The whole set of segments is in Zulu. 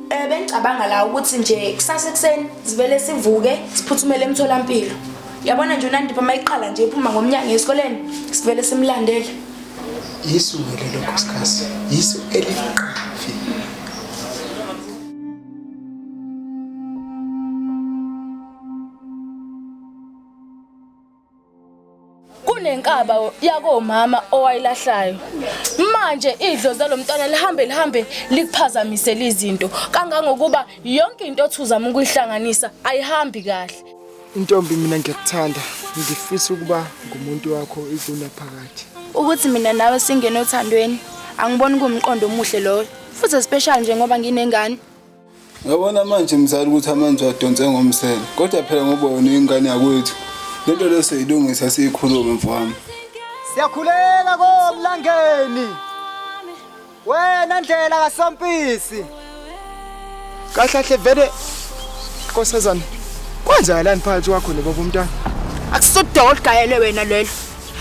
Eh bengicabanga la ukuthi nje kusasa ekuseni sivele sivuke siphuthumele emtholampilo. Yabona nje uNandipha mayiqala nje iphuma ngomnyango esikoleni sivele simlandele. Yisu ngeke lokho sikhathi. Yisu eliqala. kunenkaba yakomama owayilahlayo manje idlozi lomntwana lihambe lihambe likuphazamisela izinto kangangokuba yonke into othuzama ukuyihlanganisa ayihambi kahle intombi mina ngiyakuthanda ngifisa ukuba ngumuntu wakho ikuna phakathi ukuthi mina nawe singene othandweni angiboni kumqondo omuhle loyo futhi especially njengoba nginengane Ngabona manje mzali ukuthi amanzi wadonse ngomsele kodwa phela ngoba wena ingane yakwethu lento leso yilungisa siyikhulume mfowami siyakhuleka komlangeni wena ndlela kasompisi kahlahle vele nkosazana kwenzakalani phakathi kwakho nebaba umntana akusodwa olugayele wena lelo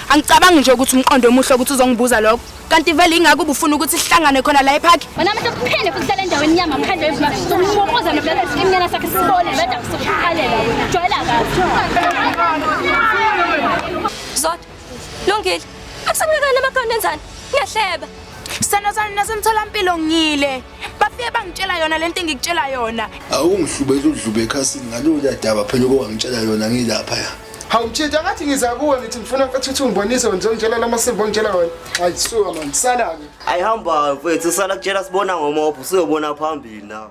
angicabangi nje ukuthi umqondo omuhle ukuthi uzongibuza lokho kanti vele ingakho ubufuna ukuthi sihlangane khona la epark wena manje kuphinde futhi sale ndaweni yama mkhandlo yezimali sokumokoza nobulala isimnyana sakhe sibone beda kusukhalela wena jwayela kahle zodwa lungile akusakunakani amakhona enzani ngiyahleba sithando sami nasemtholampilo ngile bafike bangitshela yona lento engikutshela yona awungihlubeza udlube ekhasini ngalowo daba phela okwangitshela yona ngilapha ya hawu mtshitshi angathi ngiza kuwe ngithi ngifuna ukuthi ungibonise ngizongitshela la masimba ongitshela wona hayi suka mani sala-ke ayihamba mfethu usala kutshela sibona ngomopho usuyobona phambili nawo